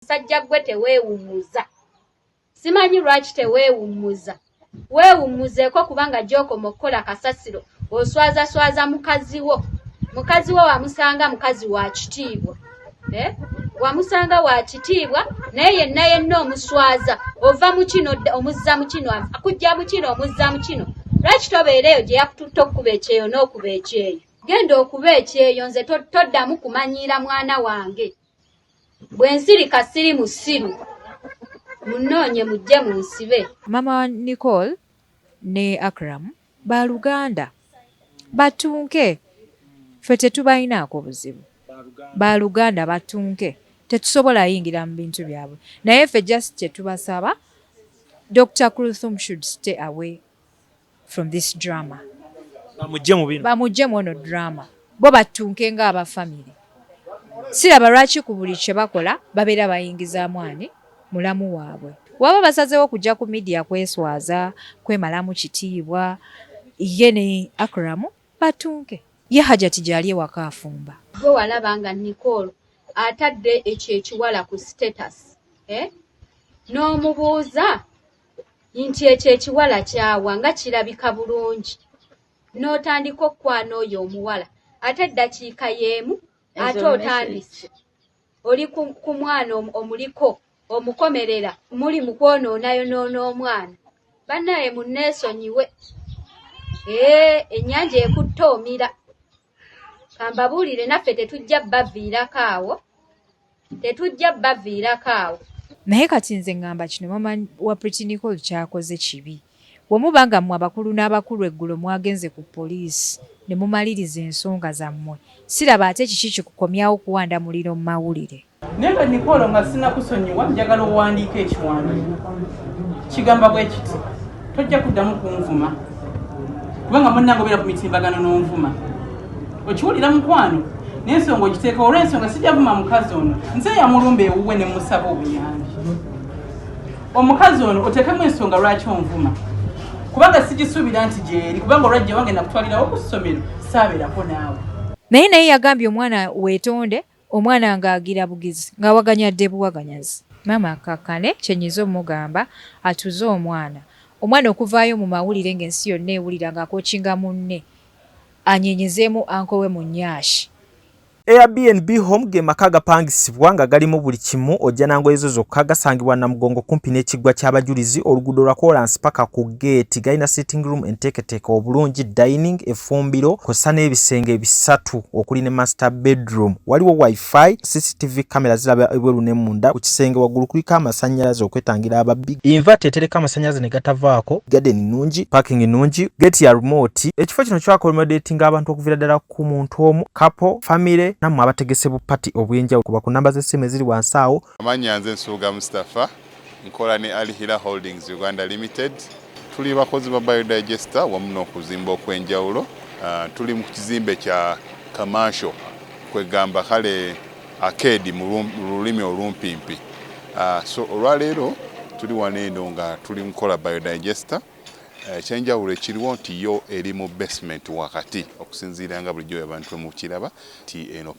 musajja gwe teweewummuza simanyi lwaki teweewummuza weewummuzeeko kubanga gy'okoma okukola kasasiro oswazaswaza mukazi wo mukazi wo wamusanga mukazi wa kitiibwa eh? wamusanga wa kitiibwa naye yenna yenna omuswaza ova mu kino omuzza mu kino akujja mu kino omuzza mu kino lwaki tobeera eyo gye yakututte okukuba ekyeyo n'okuba ekyeyo genda okuba ekyeyo nze toddamu kumanyiira mwana wange to, to Bwe nsirika siri musiru. Munnoonye mujje munsibe. Maama wa Nicole ne Akram ba luganda. Battunke. Ffe tetubalinaako buzibu. Ba luganda battunke. Tetusobola yingira mu bintu byabwe. Naye ffe just kye tubasaba, Dokita Kuluthum should stay away. from this drama bamujje mu bino bamujje mu ono drama bo battunke nga aba family siraba lwaki ku buli kye bakola babeera bayingizaamu ani mulamu waabwe waba basazeewo kujja ku midiya kweswaza kwemalamu kitiibwa ye ne akramu batunke ye hajati gyali ewaka afumba gwe walaba nga nicol atadde ekyo ekiwala ku status eh? n'omubuuza nti ekyo ekiwala kyawa nga kirabika bulungi n'otandika okukwana oyo omuwala ate eddakiika y'emu ate otandise oli ku mwana omuliko omukomerera muli mu kwonoonayonoono omwana bannaaye munneesonyiwe ee ennyanja ekutte omira kambabuulire naffe tetujja baviirako awo tetujja baviirako awo naye kati nze ngamba kino mama wa pritinicol kyakoze kibi wemuba nga mwe abakulu n'abakulu eggulo mwagenze ku poliisi ne mumaliriza ensonga zammwe siraba ate kiki kikukomyawo kuwanda muliro mu mawulire naye nga nikolo nga sinakusonyiwa njagala owandiika ekiwandiiko kigamba bwe kiti tojja kuddamu kunvuma kubanga munange obeera ku mitimbagano n'onvuma okiwulira mukwano nensonga ogiteeka olwensonga sijavuma mukazi ono nze yamulumba ewuwe ne musaba obuyambi omukazi ono oteekemu ensonga lwaki onvuma kubanga sigisuubira nti gyeri kubanga olwajja wange nakutwalirawo ku ssomero saaberako naawe naye naye yagambye omwana wetonde Omwana nga agira bugizi nga waganya dde buwaganyazi. Maama akkakkane kye nyiza omugamba atuze omwana. Omwana okuvaayo mu mawulire nga ensi yonna ewulira nga akokinga munne anyenyezeemu uncle we Munyashi. Air BNB home ge maka agapangisibwa nga galimu buli kimu ojja na ngoye zo zokka, gasangibwa Namugongo kumpi n'ekiggwa ky'abajulizi, oluguudo lwa koolansi paka ku. geeti galina sitting room enteeketeeka obulungi dining efumbiro kosa n'ebisenge bisatu okuli ne master bedroom waliwo wifi cctv camera ziraba ebweru ne munda ku kisenge waggulu kuliko amasannyalaze okwetangira ababbi invert etereka amasannyalaze ne gatavaako garden nnungi parking nnungi geeti ya remote ekifo kino kyakomedetinga abantu okuviira ddala ku muntu omu kapo famire nammwe abategese bupati obw'enjawulo kuba ku namba z'essimu eziri wansi awo amannya nze nsuuga mustapha Nkola ne Al Hila Holdings Uganda Limited. Tuli bakozi ba Biodigester wamu n'okuzimba okwenjawulo. Tuli mu kizimbe kya Commercial kwegamba kale Arcade mu lulimi olumpimpi. So olwaleero tuli wano eno nga tuli mukola Biodigester. Ekyenjawulo ekiriwo nti yo eri mu basement wakati okusinziira nga bulijjo abantu bwemukiraba nti eno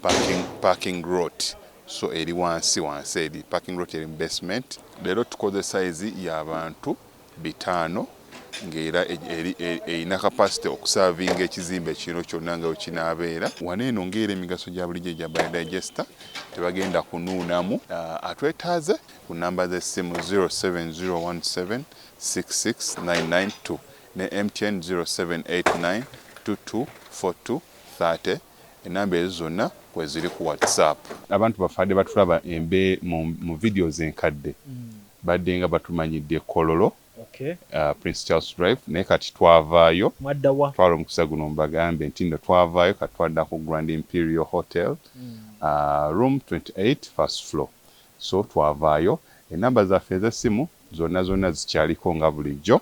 parking lot. So eri wansi wansi eri. Parking lot eri mu basement. Leero tukoze size ya bantu bitaano nga era eri erina capacity okusavinga ekizimbe kino kyonna nga wekinaabeera. Wano eno nga era emigaso gya bulijjo egya Biodigester tebagenda kunuunamu. Atwetaaze ku nnamba z'essimu 0701766992 ne MTN 0789224230. Enamba ezo zona kweziri ku WhatsApp. Abantu bafade batulaba embe mu videos enkadde badenga batumanyidde kololo prince Charles drive naye kati twavayo twala omukisa guno mbagambe ntinno twavayo kati twadda ku grand imperial hotel room 28 first floor so twavayo enamba zaffe ezesimu zona zona zikyaliko nga bulijjo.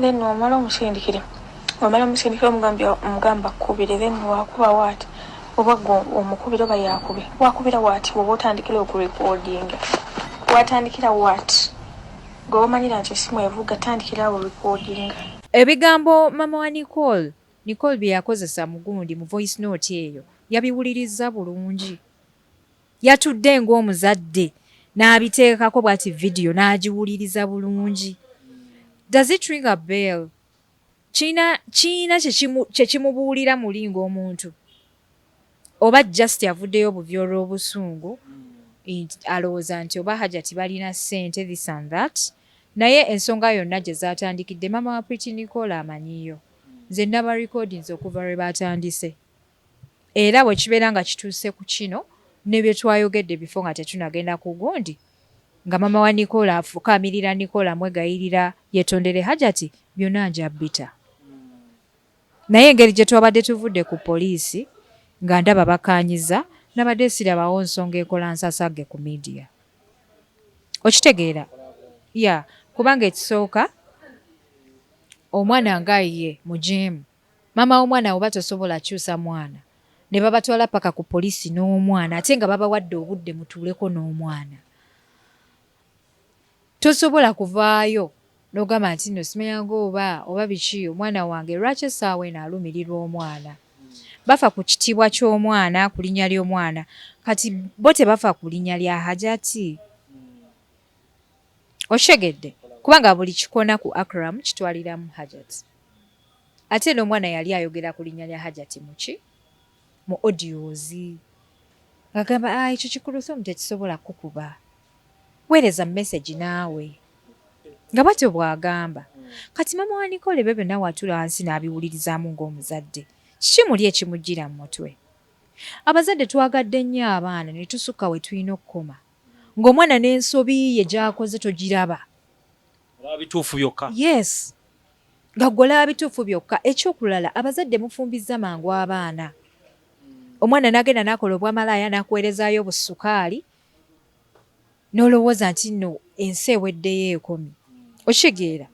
then wamala omusindikire wamala omusindikire omugambye omugamba kubire then wakuba waati oba gwe omukubira oba yakube wakubira waati oba otandikira okurekodinga watandikira waati gwe wamanyira nti esimu evuga tandikira awo rekodinga ebigambo mama wa nicole nicole bye yakozesa mugundi mu voice note eyo yabiwulirizza bulungi Yatudde ng'omuzadde n'abiteekako bwati vidiyo n'agiwuliriza bulungi. Does it ring a bell? Kirina kirina kye kimu kye kimubuulira muli ng'omuntu? Oba just avuddeyo buvi olw'obusungu nti alowooza nti oba Hajati balina ssente this and that. Naye ensonga yonna gye zaatandikidde maama wa Pretty Nicole amanyiyo. Nze nnabarikoodinze okuva lwe baatandise. Era bwe kibeera nga kituuse ku kino, ne bye twayogedde bifo nga tetunagenda ku gundi, nga maama wa Nicola afukaamirira Nicola amwegayirira yetondere Hajati, byonna nja bbita. Naye engeri gye twabadde tuvudde ku poliisi nga ndaba bakaanyiza, nabadde sirabawo nsonga ekola nsasagge ku media. Okitegeera? Yeah, kubanga ekisooka, omwana nga ye mujeemu. Maama womwana oba tosobola kyusa mwana nebabatwala paka ku police nomwana ate nga babawadde obudde mutuuleko nomwana tosobola kuvaayo nogamba nti no simanyaga oba oba biki omwana wange lwaki esaawa eno alumirirwa omwana bafa ku kitiibwa kyomwana kulinya lyomwana kati bo tebafa kulinya lya hajati okitegedde kubanga buli kikona ku Akram kitwaliramu Hajat ate n'omwana yali ayogera ku linnya lya Hajat muki mu audios ngagamba ah, ekyo kikuluthum tekisobola kukuba weereza message naawe nga batyo bwagamba kati mama wa Nicole bebe nawe atula wansi n'abiwulirizaamu ng'omuzadde kiki muli ekimujjira mu mutwe abazadde twagadde nnyo abaana ne tusukka we tulina okukoma nga omwana nensobi ye gyakoze togiraba olaba bituufu byokka yes nga gwe olaba bituufu byokka ekyokulala abazadde mufumbizza mangu abaana omwana nagenda nakola obwamalaaya nakuwerezayo obusukaali nolowooza nti no ensi eweddeyo ekomi okitegeera.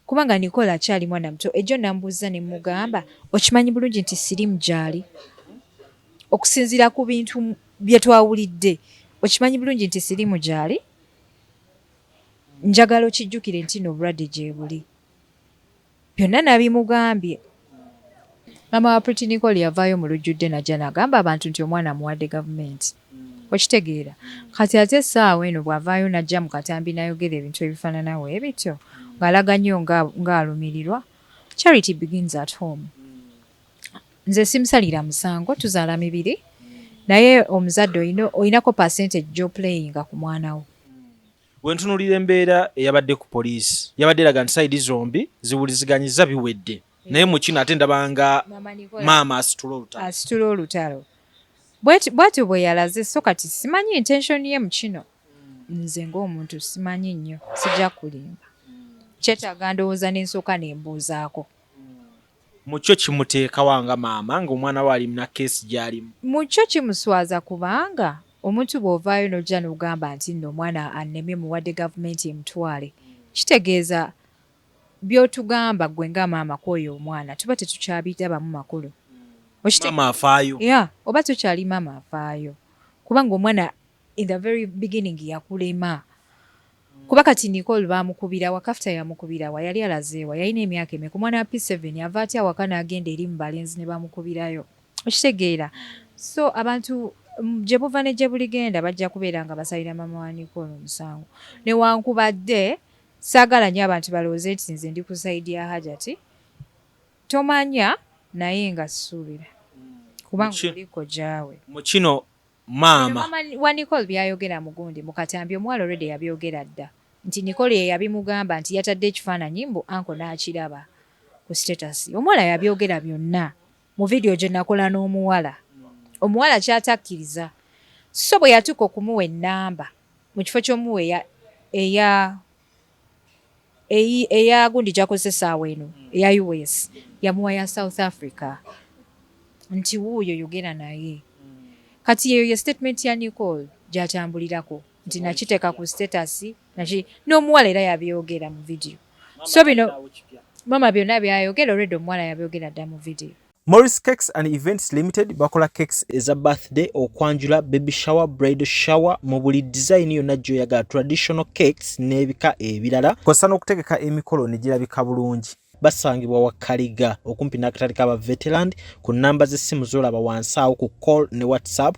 Kubanga Nicole akyali mwana muto. Ejjo namubuuzza ne mmugamba, okimanyi bulungi nti Siriimu gy'ali? Okusinziira ku bintu bye twawulidde, okimanyi bulungi nti Siriimu gy'ali? Njagala okijjukire nti nno obulwadde gyebuli. Byonna nabimugambye. Maama wa Pretty Nicole yavaayo mu lujjudde najja nagamba abantu nti omwana amuwadde gavumenti. Okitegeera? Kati ate essaawa eno bwavaayo najja mu katambi nayogera ebintu ebifanana webityo ng'alaga nnyo nga nga alumirirwa, charity begins at home. Nze simusalira musango, tuzaala mibiri naye omuzadde olina olinako percentage gy'oplayinga ku mwana wo. Wentunulira embeera eyabadde ku poliisi yabadde eraga nti sayidi zombi ziwuliziganyizza biwedde naye mu kino ate ndabanga maama asitula olutalo asitula olutalo bwatyo bwe yalaze so kati simanyi intention ye mu kino nze ng'omuntu simanyi nnyo sijja kulimba kyetaaga ndowooza n'ensooka ne mbuuzaako Mu kyo kimuteeka wa nga maama nga omwana we ali mna case gyalimu? Mu kyo kimuswaza kubanga omuntu bwovaayo nojja nogamba nti nno omwana annemye muwadde gavumenti emutwale kitegeeza byotugamba gwe nga maama kwoyo omwana tuba tetukyabirabamu makulu Maama afaayo. Yeah oba tokyali maama afaayo kubanga omwana in the very beginning yakulema. Kuba kati Nicole bamukubira wa kafta yamukubira wa yali alaze wa yalina emyaka emeka omwana wa P7 ava atya awaka nagenda eri mubalenzi nebamukubirayo okitegeera so abantu gyebuva ne gyebuligenda bajja kubeera nga basalira mama wa Nicole omusango newankubadde saagala nyo abantu balowooze nti nze ndi ku saidi ya hajati tomanya naye nga suubira kubanga oliko gyawe mu kino maama. Maama wa Nicole byayogera mugundi mukatambi omuwala already yabyogera dda nti Nicole yeyabimugamba nti yatadde ekifaananyi mbu uncle nakiraba ku status omuwala yabyogera byonna mu video gyenakola n'omuwala omuwala kyatakkiriza so bweyatuuka okumuwa ennamba mukifo kyomuwa eya eya gundi gyakozesa essaawa eno eya us yamuwa ya south africa nti wuuyo yogera naye kati yeyo ye statement ya nicol gyatambulirako nti nakiteeka ku status naki n'omuwala era yabyogera mu vidiyo so bino mama byonna byayogera olwedda omuwala yabyogera dda mu vidiyo Morris Cakes and Events Limited bakola cakes eza birthday, okwanjula, baby shower, bridal shower mu buli design yonna gy'oyagala, traditional cakes n'ebika ebirala. Kosa n'okutegeka emikolo ne girabika bulungi. Basangibwa wa Kaliga okumpi n'akatale ka Baveteland ku nnamba z'essimu z'olaba wansi awo ku call ne WhatsApp.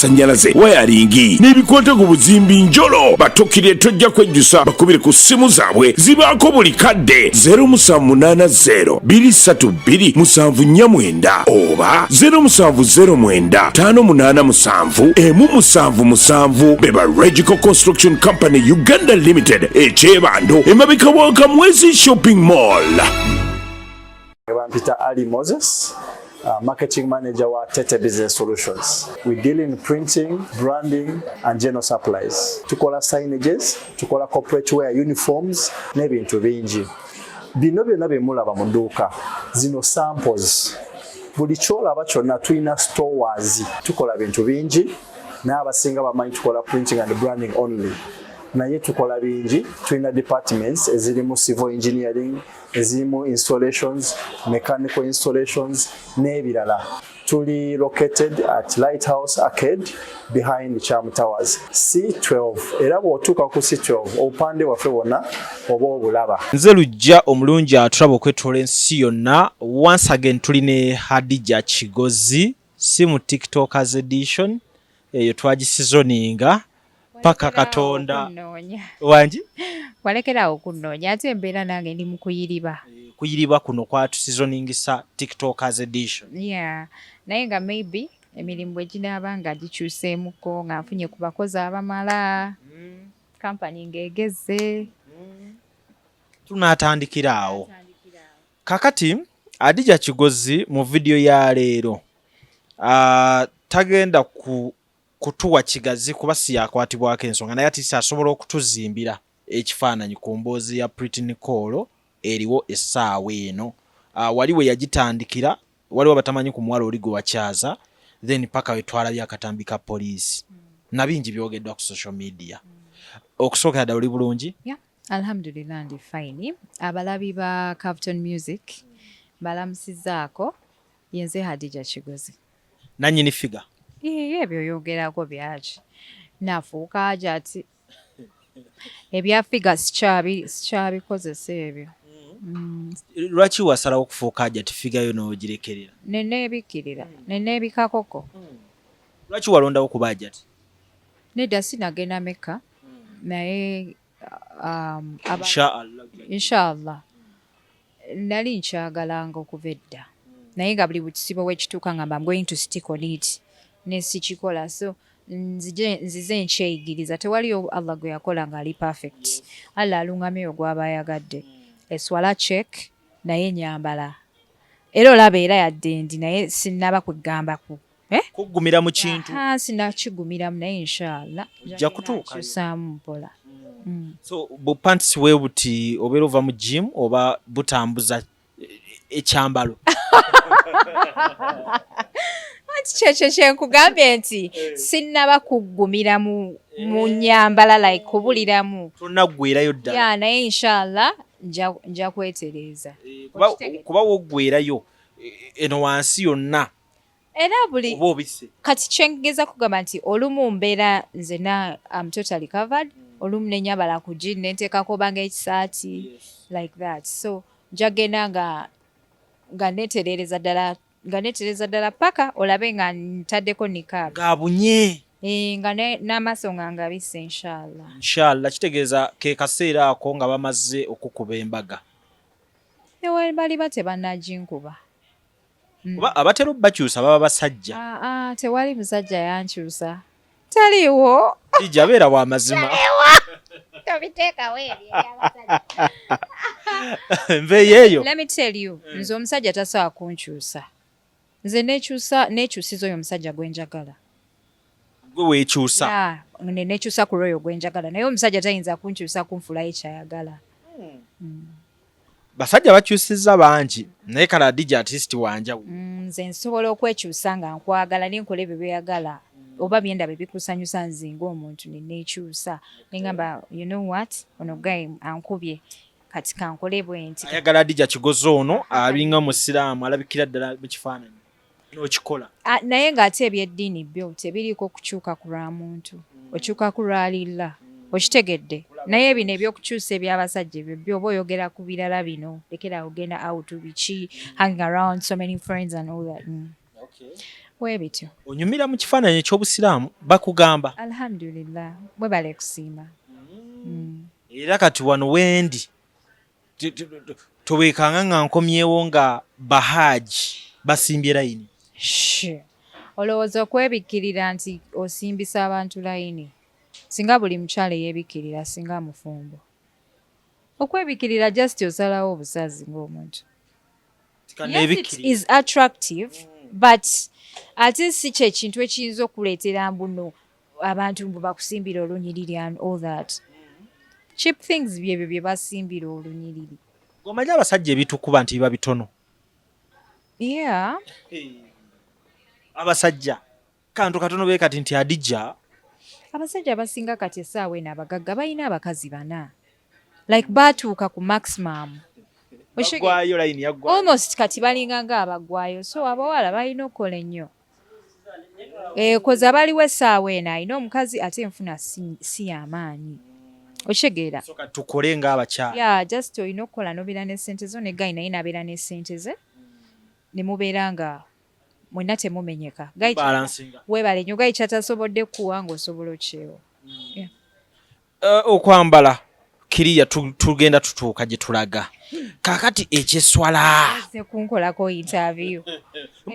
amasannyalaze wayaringi n'ebikwata ku buzimbi njolo batukire tojja kwejjusa bakubire ku ssimu zaabwe zibaako buli kadde 0780 232 musanvu nnya mwenda oba 0709 58 musanvu emu musanvu musanvu beba regical construction company uganda limited ekyebando emabika wa kamwezi shopping mall Bampita Ali Moses, uh, marketing manager wa Tete Business Solutions. We deal in printing, branding and general supplies. Tukola signages, tukola corporate wear uniforms n'ebintu bingi. Bino byonna bye mulaba mu dduuka zino samples. Buli kyolaba kyonna tulina stores. Tukola bintu bingi naye abasinga bamanyi tukola printing and branding only. naye tukola bingi tulina departments ezirimu civil engineering ezimu installations mechanical installations n'ebirala tuli located at lighthouse arcade behind cham towers c12 era bw'otuuka ku c12 obupande bwaffe bwonna oba obulaba nze lujja omulungi atulaba okwetoola ensi yonna once again tuli ne hadija kigozi si mu tiktokers edition eyo twagisizoninga paka katonda wangi walekerawo okunoonya ate embeera nange ndi mukuyiriba eh, kuyiriba kuno kwatusizoningisa tiktokers edition yeah. naye nga maybe emirimu bwe ginaaba nga gikyuseemuko nga nfunye ku bakozi abamala mm. kampani ng'egezze mm. tunaatandikira awo kakati adija kigozi mu vidiyo ya leero ah, tagenda ku kutuwa kigazi kuba siyakwatibwako ensonga naye atisa asobola okutuzimbira ekifaananyi ku mboozi ya Pretty Nicole eriwo essaawa eno uh, wali we yagitandikira waliwo abatamanyi ku muwala oli gwe wakyaza then paka wetwalabye akatambi ka poliisi mm. na bingi byogeddwa ku social media mm. okusookera ddala oli bulungi yeah. alhamdulillah ndi fine abalabi ba capton music balamusizaako yenze hadija kigozi nanyini figa iye ebyo yogerako byaki nafuuka aja ati ebya figa sikyabikozesa ebyo mm. lwaki wasalawo okufuuka aja ti figa yo nogirekerera nenebikkirira nenebikakoko mm. lwaki walondawo kuba aja ti nedda sinagenda mekka mm. naye um, inshallah Nali nkyagalanga okuva edda naye nga buli bukizibu wekituuka ngamba am going to stick on it nesikikola so nzize nkyeyigiriza tewaliyo allah gwe yakola ng'ali perfect allah alungamya oyo gwaba ayagadde eswala check naye nyambala era olaba era yadde ndi naye sinnaba kwegamba ku Eh? Kugumira mu kintu. Ah, sinakigumira naye inshallah. Ojja kutuuka. Kusaamu mpola. Mm. So bu pants we buti obero va mu gym oba butambuza ekyambalo. Anti kyekyo kyenkugambye nti eh. sinnaba kuggumira mu eh. mu nyambala like kubuliramu tonaggwerayo ddala ya naye inshallah nja kwetereeza eh, kuba woggwerayo eno wansi yonna era buli oba obisse kati kyengeza kugamba nti olumu mbeera nzena am totally covered mm. olumu nenyabala ku jini nenteekako obanga ekisaati like that so njagenda nga nga netereereza ddala nga netereereza ddala paka olabe nga ntaddeko nikab ngabunye eh, nga n'amaaso nga ngabise inshallah inshallah kitegeeza ke kaseera ako nga bamaze okukuba embaga newebaliba tebanaginkuba Hmm. Oba abatera obakyusa baba basajja. Ah, ah, tewali musajja yankyusa. Taliwo. Ija beera wa mazima. Tobiteekawo ebyo eby'abasajja. Nveeyo eyo. Let me tell you, hmm. nze omusajja tasobola kunkyusa. Nze nekyusa nekyusiza oyo omusajja gwe njagala. gwe wekyusa nekyusa ku lwoyo gwenjagala naye omusajja tayinza kunkyusa kunfulayo kyayagala hmm. hmm. basajja bakyusiza bangi naye kala dija atist wanjawo hmm, nze nsobola okwekyusa nga nkwagala nenkola ebyo byeyagala oba byenda bebikusanyusa nze ngaomuntu nenekyusa nengamba you know what ono guy ankubye kati kankole bwenti ayagala dija kigozi ono abinga musiraamu alabikira ddala mu kifaananyi nokikola naye nga ate ebyeddiini byo tebiriiko kukyuka ku lwa muntu mm. okyuka ku lwa lilla mm. okitegedde naye bino ebyokukyusa ebyabasajja ebyo byoba oyogera ku birala bino lekera ogenda out biki hang around so many friends and all that mm. okay. webityo onyumira mu kifaananyi ekyobusiraamu bakugamba alhamdulillah mwebale kusiima mm. mm. era kati wano wendi towekanga nga nkomyewo nga bahaaji basimbye layini olowooza okwebikkirira nti osimbisa abantu layini singa buli mukyala eyebikkirira singa mufumbo okwebikkirira just osalawo obusazi ng'omuntu yes it is attractive mm. but ate si kyekintu ekiyinza okuleetera mbuno abantu mbu bakusimbira olunyiriri and all that cheap things byebyo bye basimbira olunyiriri omanyi abasajja ebitukuba nti biba bitono yeah abasajja kantu katono be kati nti adija abasajja abasinga kati esaawa eno abagagga balina abakazi bana like baatuuka ku maximum almost kati balinga nga abagwayo so abawala balina okukola ennyo ekoze eh, abaliwo essaawa eno alina omukazi ate enfuna si yamaanyi okitegeera tukole ngaabakyala ya just olina okukola nobeera nesente zo negayi naye nabeera nesente ze nemubeera nga mwena temumenyeka webale nyo gayi kyatasobodde kuwa ngaosobola okyewo hmm. Eh, okwambala kiriya tugenda tutuuka gye tulaga kakati ekyeswala kunkolako interview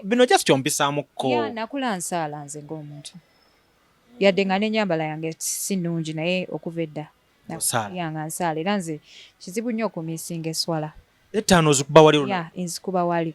bino just kyompisaamuko nakula nsaala nze ng'omuntu yadde nga n'enyambala yange si nnungi naye okuva edda yanga nsaala era nze kizibu nnyo okumisinga eswala ettaano ozikuba wali enzikuba wali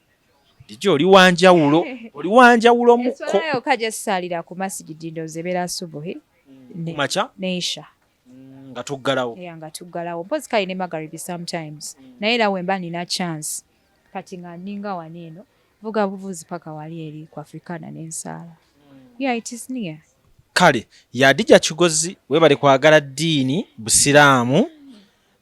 Dije oli wanjawulo, oli wanjawulo muko. Eswala yoka jessalira ku masjid ndo zebera subuhi. Mm, ne, macha? Neisha. Mm, nga tuggalawo. Yeah, nga tuggalawo. Mpozi kali ne magaribi sometimes. Mm. Naye era wemba nina chance. Kati nga ninga waneno. Vuga buvuzi paka wali eri ku Afrikana n'ensaala. Mm. Yeah, it is near. Kale, yadija kigozi webale kwagala dini, busiramu. Mm.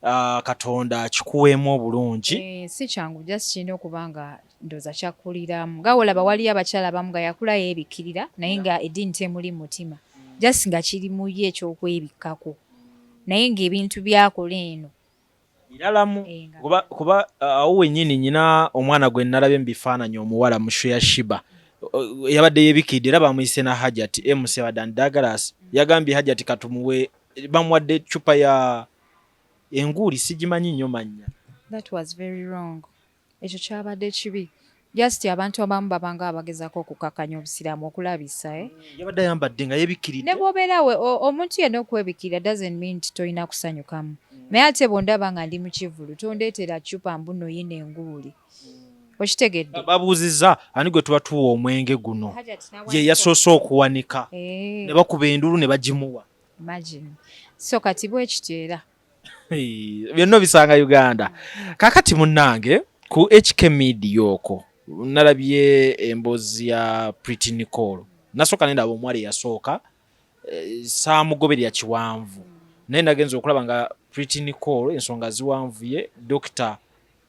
Ah, katonda akikuweemu obulungi eh, si kyangu just kirina okuba nga ndoza kyakuliramu nga olaba waliyo abakyala abamu nga yakula yeebikkirira naye nga eddiini temuli mutima just nga kiri mu ye ekyokwebikkako naye ng'ebintu byakola eno biralamu eh, kuba ah, awo wennyini nyina omwana gwe nalabye mu bifaananyi omuwala mushu ya shiba yabadde yebikidde era bamuyise na hajati emusebadde andagalasi yagambye hajati katumuwe bamuwadde eccupa ya enguuli sigimanyi nnyo mannya that was very wrong ekyo kyabadde kibi just abantu abamu babanga abagezako okukakanya obusiraamu okulabisa eh? mm, yabadde ayambadde nga yebikkiridde ne bwobeerawe omuntu yenna okwebikirira doesn't mean nti tolina kusanyukamu mm. naye ate bwondaba nga ndi mu kivulu tondeetera cupa mbuno yina enguuli okitegedde babuuzizza ani gwe tuba tuwa omwenge guno ye yasoose okuwanika eh. ne bakuba endulu ne bagimuwa so kati bwekityo era byonna obisanga uganda kakati munnange ku hk media oko nalabye emboozi ya priti nicol nasooka nendaba omuwala eyasooka eh, saamugoberera kiwanvu naye nagenza okulaba nga Pretty Nicole ensonga ziwanvuye Dr.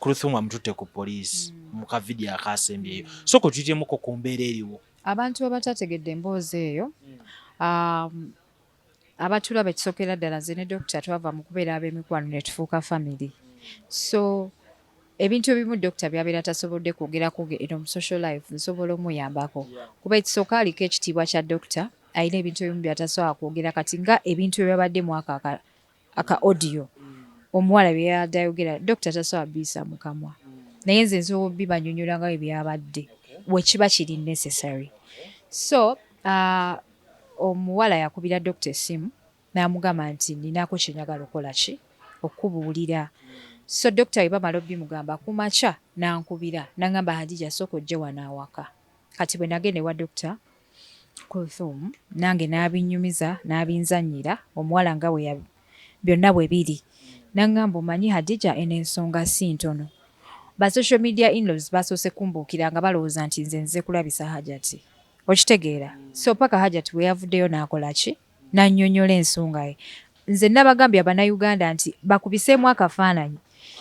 Kruthum amututte ku poliisi mm. mu kavidiyo akaasembyeyo so kwe tuyiremuko ku mbeera eriwo abantu abatategedde emboozi eyo mm. um, abatulaba ekisokera ddala nze ne dokita twava mu kubeera ab'emikwano ne tufuuka famire so ebintu ebimu dokita byabeera tasobodde kwogera ku eno mu social life nsobola omuyambako kuba ekisooka aliko ekitiibwa kya dokita alina ebintu ebimu byatasobola kwogera kati nga ebintu ebyabadde mwaka aka audio omuwala byeyabadde ayogera dokita tasobola biyisa mu kamwa naye nze nsobola obibanyonyola nga webyabadde wekiba kiri necessary so uh, omuwala yakubira dokita esimu Namugamba nti ninako kyenjagala okola ki okukubulira so doctor bwebamala obimugamba kumakya nankubira nangamba Hadijah soka ojje wano awaka kati bwenagenda ewa doctor Kulthum nange nabinyumiza nabinzanyira omuwala nga bwe byonna bwebiri nangamba omanyi Hadijah eno ensonga sintono ba social media inlaws basoose kumbuukira nga balowooza nti nze nzize kulabisa Hajati okitegeera so paka Hajati bweyavuddeyo nakola ki n'annyonnyola ensonga ye. Nze nnabagambye Abannayuganda nti bakubiseemu akafaananyi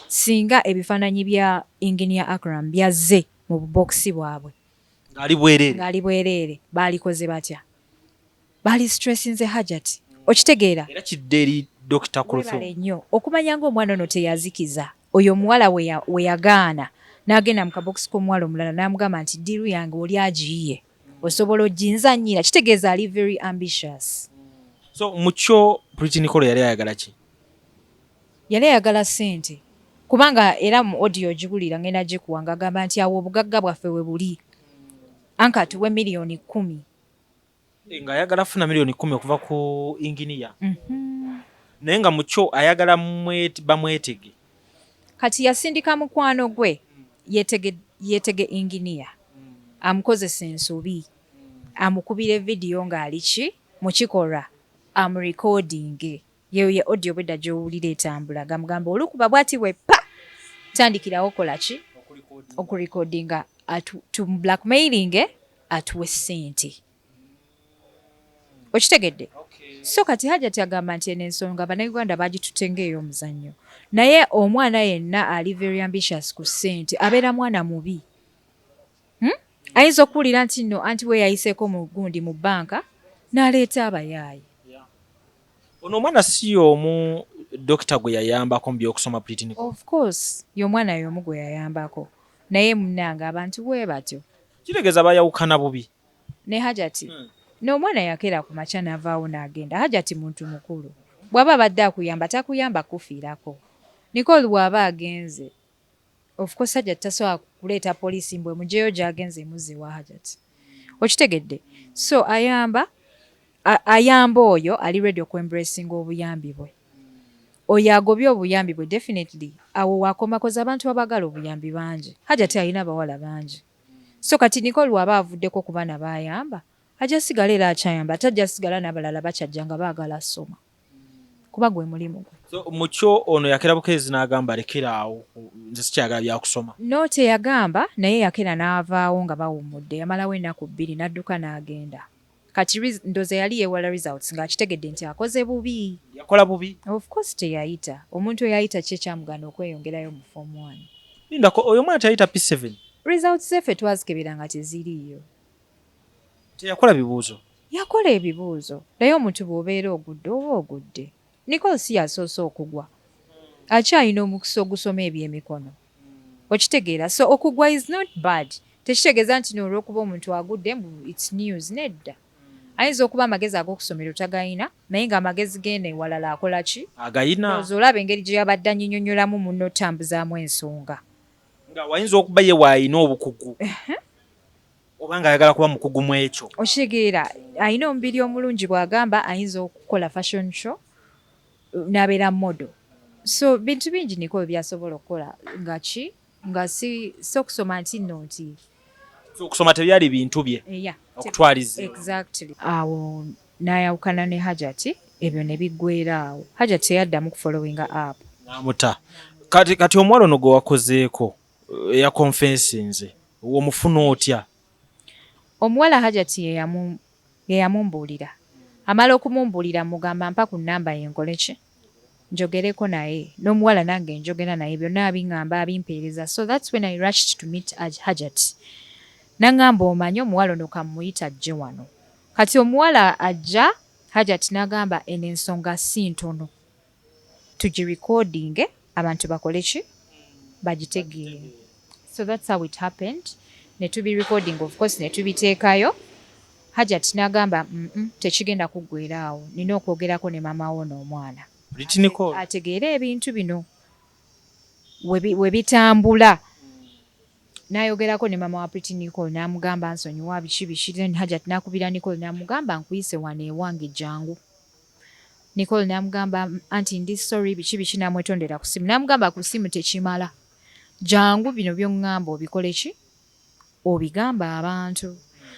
singa ebifaananyi bya Engineer Akram byazze mu bubookisi bwabwe ng'ali bwereere baalikoze batya? Baalisitresinze Hajati, okitegeera. Weebale nnyo okumanya ng'omwana ono teyazikiza oyo omuwala we yagaana n'agenda mu kabookisi k'omuwala omulala n'amugamba nti ddiiru yange oli agiyiye. osobola oginzanyira kitegeeza ali very ambitious so mukyo pretty nicole yali ayagala ki yali ayagala sente kubanga era mu audio ogibulira ngenda gikuwa nga agamba nti awo obugagga bwaffe we buli anka tuwe miliyoni kumi eh, nga ayagala funa miliyoni kumi okuva ku inginiya mhm. naye nga mukyo ayagala bamwetege Kati yasindika mukwano gwe yeetege yeetege Engineer amukozese ensobi amukubire video ng'ali ki mu kikolwa amurecordinge yeeyo ye audio obwedda gy'owulira etambula gamugamba olukuba bwati bwe ppa tandikirawo kola ki okurecordinga atu tumublackmailinge atuwe ssente. okitegedde so kati hajati agamba nti eno ensonga banauganda bagitutte ngaey'omuzannyo naye omwana yenna ali very ambitious ku ssente abeera mwana mubi hmm? ayinza okuwulira nti no anti we yayiseeko mu gundi mu bbanka n'aleeta abayaaye ono omwana si y'omu dokita gwe yayambako mu by'okusoma pritini of course y'omwana y'omu gwe yayambako naye munange abantu bwe batyo kitegeeza bayawukana bubi Ne Hajati, No omwana yakera kumakya navaawo nagenda, Hajati muntu mukulu bwaba abadde akuyamba takuyamba kukufiirako, Nicole bwaba agenze of course Hajati tasobola kuleeta police mbu emujeyo gyagenze emuzze ewa Hajati okitegedde so ayamba ayamba oyo ali ready oku embracinga obuyambi bwe oyo agobye obuyambi bwe definitely awo wakoma kozi abantu abagala obuyambi bangi Hajati alina abawala bangi So kati Nicole bwaba avuddeko kubana bayamba aja sigala era akyayamba ate aja sigala nabalala bakyajja nga bagala asoma kuba gwe mulimu gwe. So mukyo ono yakera bukeezi nagamba lekera awo nze sikyagala byakusoma. No teyagamba naye yakera navaawo nga bawummudde yamalawo enaku bbiri nadduka nagenda. Kati ndoza yali yewala results nga akitegedde nti akoze bubi. Yakola bubi? Of course teyayita. Omuntu eyayita ki ekyamugana okweyongerayo mu form one? Lindako oyo omwana teyayita P7? Results ze ffe twazikebera nga teziriiyo. Teyakola bibuuzo? Yakola ebibuuzo naye omuntu bwobeera ogudde oba ogudde. Nicole si yasoose okugwa. Akyalina omukisa ogusoma ebyemikono. okitegeera so okugwa is not bad tekitegeeza nti noolwokuba omuntu agudde mbu its news nedda ayinza okuba amagezi ag'okusomero tagayina naye nga amagezi geena ewalala akola ki agayina oza olaba engeri gye yabadde anyinyonyolamu munno otambuzaamu ensonga nga wayinza okuba ye waayina obukugu oba nga ayagala kuba mukugu mu ekyo okitegeera ayina omubiri omulungi bw'agamba ayinza okukola fashion show nabera modo so bintu bingi niko byasobola okukola nga ki nga si so kusoma nti no nti so okusoma tebyali bintu bye eh, yeah, okutwaliza exactly awo nayawukana ne hajati ebyo ne biggwera awo hajati teyaddamu kufollowinga app namuta kati kati omuwala ono gwe wakozeeko eya eh, confensinze womufuna otya omuwala hajati yeyamu Ye yamumbuulira. Amala okumumbuulira mmugamba mpa ku nnamba ye nkole ki? Njogereko naye. N'omuwala nange njogera naye byonna abing'amba abimpeereza so that's when I rushed to meet Hajjat. N'ang'amba omanyi omuwala ono ka mmuyite ajje wano. Kati omuwala ajja Hajjat n'agamba eno ensonga si ntono. tugirecordinge abantu bakole ki bagitegeere so that's how it happened netubirecording of course netubiteekayo hajat nagamba mm -mm, tekigenda kuggwera awo nina okwogerako ne mama wo n'omwana ategeere ebintu bino webitambula we nayogerako ne mama wa pretty nicole namugamba nsonyiwa biki biki then hajat nakubira nicole namugamba nkuyise wano ewange jangu Nicole namugamba anti ndi sorry biki biki namwetondera kusimu namugamba kusimu tekimala jangu bino byongamba obikoleki obigamba abantu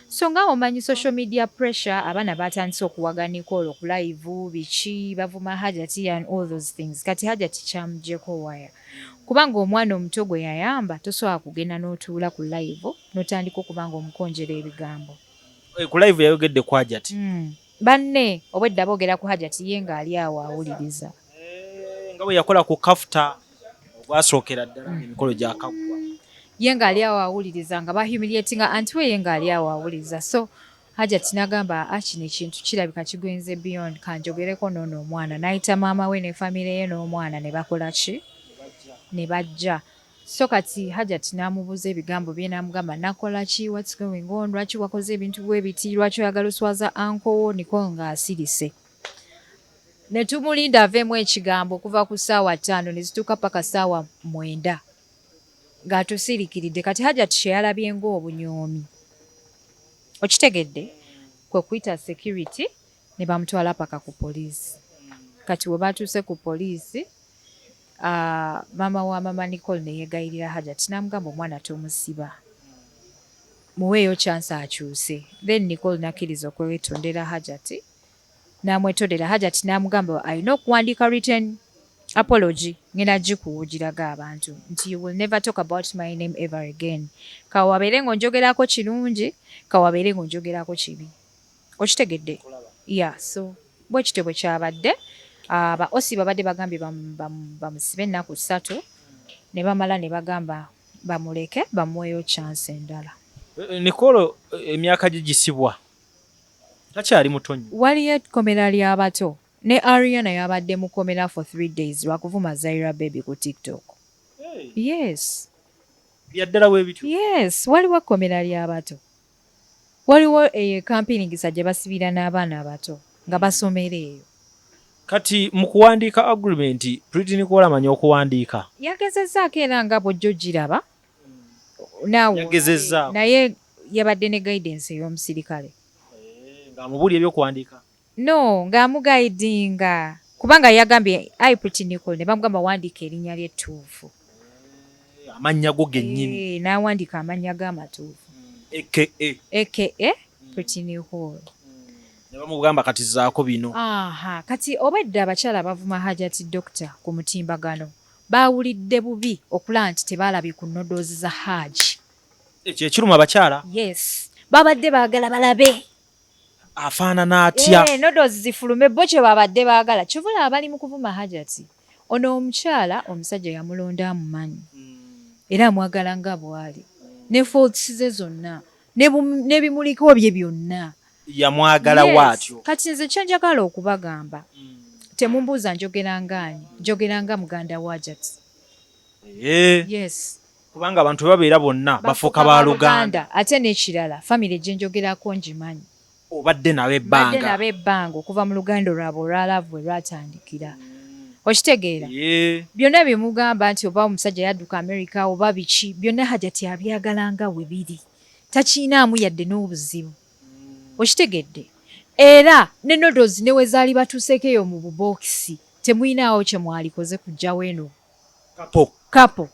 so nga omanyi social media pressure abana batandise okuwaga Nicole okulaivu biki bavuma hajati and all those things kati hajati kyamujeko waya kubanga omwana omuto gwe yayamba tosobola kugenda notuula ku laivu notandika okubanga omukonjera ebigambo eh, ku laivu yayogedde kwajati mm. Banne obwedda bogera ku Hajati ye nga ali awo awuliriza. Eh, nga bwe yakola ku kafuta ogwasookera ddala emikolo gyakaggwa ye nga ali awo awuliriza nga bahumiliatinga anti we ye nga ali awo awuliriza so Hajati nagamba a ah, kino ekintu kirabika kigwenze beyond kanjogereko noono omwana nayita maama we ne famire ye n'omwana ne bakola ki ne bajja So kati hajat namubuza ebigambo bye namugamba nakolaki what's going on lwaki wakoze ebintu bwebiti lwaki oyagala oswaza anko wo Nicole nga asirise netumulinda avemu ekigambo okuva ku saawa tano nezituuka paka saawa mwenda nga tusirikiridde kati hajat kyeyalabye nga obunyoomi okitegedde kwekuyita security ne bamutwala paka ku poliisi kati we baatuuse ku poliisi ah, maama wa maama nicole ne yeegayirira hajati n'amugamba omwana tomusiba muweeyo kyansi akyuse then nicole nakkiriza okwewetondera hajati n'amwetondera hajati n'amugamba alina okuwandiika written apology ngena gikuwugiraga abantu nti you will never talk about my name ever again kawabeere ng'onjogerako kirungi kawabeere ng'onjogerako kibi Okitegedde? Yeah, so bwe kityo bwe kyabadde. Ah, ba osi babadde bagambye bamusibe ennaku ssatu ne bamala ne bagamba bamuleke bamuweeyo chance endala. Eh, eh, Nikolo eh, emyaka gye gisibwa takyali muto nnyo. Waliyo ekkomera ly'abato ne Ariana yabadde mu kkomera for three days lwa kuvuma Zaira Baby ku TikTok. Yes. Byaddala bwe bityo? Yes, waliwo ekkomera ly'abato. Waliwo eyo e Kampiringisa gye basibira n'abaana abato nga basomera eyo. Kati mu kuwandiika agreement, Pretty Nicole amanyi okuwandiika? Yagezezzaako era nga bw'ojja ogiraba naawe olabye naye yabadde ne guidance ey'omusirikale. Ng'amubuulira eby'okuwandiika? No nga amugaidinga kubanga yagambye I pretty Nicole ne bamugamba wandiika erinnya lye ettuufu. Eeh amannya go gennyini. Eeh n'awandiika amannya ge amatuufu. AKA. AKA pretty Nicole. Ne bamugamba kati zaako bino. Aaha kati obwedda abakyala abavuma Hajati Dokita ku mutimbagano baawulidde bubi okulaba nti tebaalabye ku noodles za Hajj. Ekyo ekiruma abakyala? Yes babadde baagala balabe. afaanana atya eh, nodozi zifulume bo kye babadde baagala kyobola abali mu kuvuma hajati ono omukyala omusajja yamulonda amumanyi hmm. era amwagala nga bwali ne faults ze zonna nebimuliko bye byonna yamwagala waatyo kati nze kyenjagala okubagamba hmm. temumbuuza njogerangaanyi njogeranga muganda wa hajati eh. yes kubanga abantu babeera bonna bafuuka ba luganda ate n'ekirala famire gye njogerako ngimanyi obadde nabo ebbanga nabo ebbanga okuva mu luganda olwabwe olwalaavu bwe lwatandikira okitegeera byonna bye mugamba nti oba omusajja yadduka amerika oba biki byonna hajati abyagala nga we biri takiinaamu yadde n'obuzibu hmm. okitegedde era ne nodozi ne we zaali batuuseeko eyo mu bubookisi temulinaawo kye mwalikoze kujjawo eno kapo kapo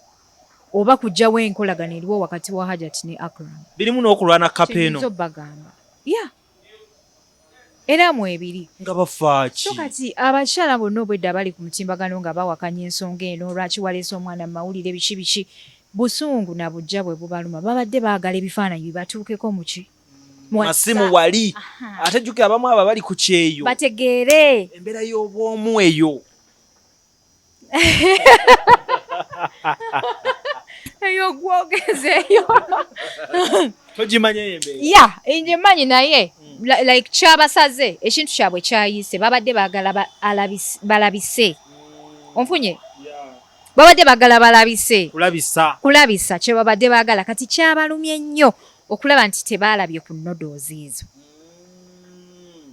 oba kujjawo enkolagana eriwo wakati wa Hajat ne Akram. Birimu n'okulwana kapo eno. Kyenyizo bagamba. Yeah. Era mu ebiri. Nga bafaaki. So kati abakyala bonna obwedda bali ku mutimbagano nga bawakanya ensonga eno lwaki waleese omwana mu mawulire biki biki busungu na bujja bwe bubaluma babadde baagala ebifaananyi bibatuukeko muki masimu wali ate jukira abamu abo bali ku kyeyo bategeere embeera y'obwomu eyo eyo gwogeza eyo ya ngimanyi naye mm. like kyabasaze ekintu kyabwe kyayise babadde bagala balabise mm. onfunye babadde bagala balabise kulabisa kyebabadde bagala kati kyabalumye nnyo okulaba nti tebaalabye ku nodozi ezo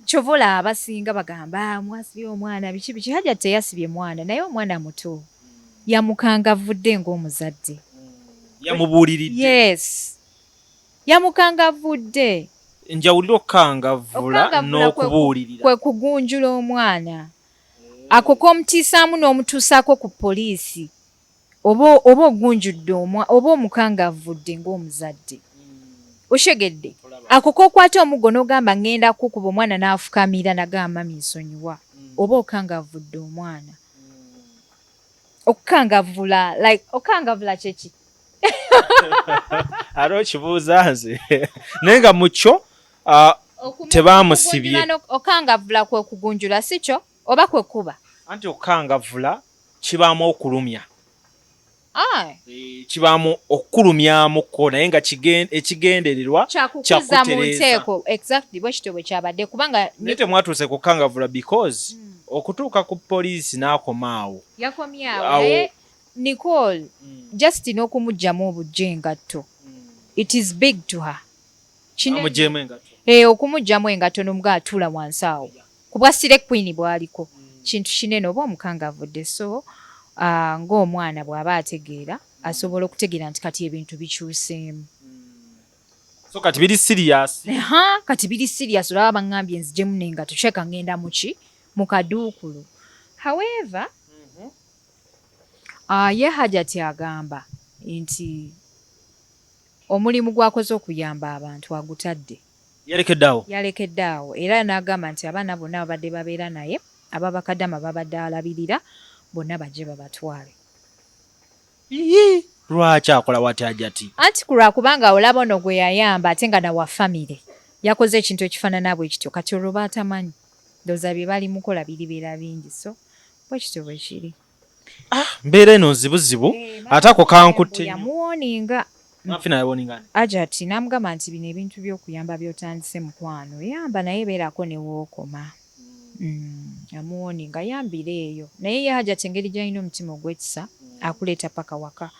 kyova olaba basinga bagamba ah, mwasibye omwana biki biki hajja teyasibye mwana naye omwana muto yamukangavudde ngaomuzadde yamubuuliridde yes yamukangavudde njawulira okukangavula n'okubuulirira kwe kugunjula omwana ako komutiisaamu n'omutuusaako ku poliisi oba oba ogunjudde omwa oba omukangavvudde ng'omuzadde. Okitegedde? Ako k'okwata omuggo n'ogamba ŋŋenda kukuba omwana n'afukamira nagamba mami nsonyiwa, oba okangavvudde omwana. Okukangavvula like okukangavvula kye ki? Ate okibuuza nze naye nga mu kyo tebaamusibye. Okukangavvula kwe kugunjula si kyo? oba kwe kuba anti okukangavvula kibaamu okulumya kibaamu okukulumyamuko naye nga ekigendererwa kyakukuza mu nteeko exactly bwe kityo bwe kyabadde kubanga naye temwatuuse kukangavula because mm. okutuuka ku poliisi n'akoma awo yakomyawo naye nicole mm. just n'okumugyamu obujja engatto mm. it is big to her eh, okumugyamu engatto n'omuga atuula wansi awo yeah. kubwa sire queen bwaliko kintu kinene oba omukanga avudde so uh, ng'omwana bw'aba ategeera asobola okutegeera nti kati ebintu bikyuseemu hmm. so kati biri sirias ha kati biri sirias olaba baŋŋambye nzijemu naye nga tukyeka ŋŋenda muki mu kaduukulu however mm-hmm. uh, ye hajati agamba nti omulimu gwakoze okuyamba abantu agutadde Yalekedde awo. Yalekedde awo era n'agamba nti abaana bonna ababadde babeera naye aba bakadama b'abadde alabirira bonna bajje babatwale. Iyii! Lwaki akolawo atyo Hajati? Anti ku lwa kubanga olaba ono gwe yayamba ate nga na wa famire yakoze ekintu ekifaanana bwe kityo kati olwo b'atamanyi ndowooza bye balimukola biribeera bingi so bwe kityo bwe kiri. ah, mbeera eno nzibuzibu eh, ate ako kankutte yamuwoninga ajati namugamba nti bino ebintu byokuyamba byotandise mukwano yamba naye beerako newookoma amuwoninga mm, yambira eyo naye ye hajati engeri gyalina omutima ogwekisa mm. akuleeta paka waka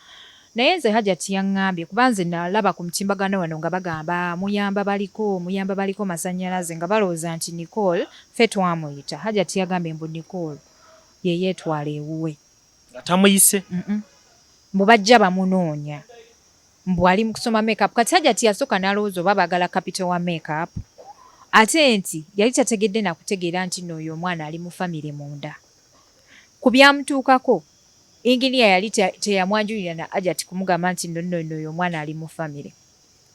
naye nze hajati yaŋŋambye kuba nze nalaba ku mutimbagano wano nga bagamba muyamba baliko muyamba baliko masannyalaze nga balowooza nti nicole fe twamuyita hajati yagambye mbu nicole ye yetwala ewuwe. Nga tamuyise? Mm-mm. Mbu bajja bamunoonya. Mbu ali mu kusoma makeup. Kati Hajati yasooka n'alowooza oba baagala kapito wa makeup. Ate nti yali tategedde na kutegeera nti nno oyo omwana ali mu famire munda. Ku byamutuukako, Inginiya yali te, teyamwanjulira na Hajati kumugamba nti nno nno nno oyo omwana ali mu famire.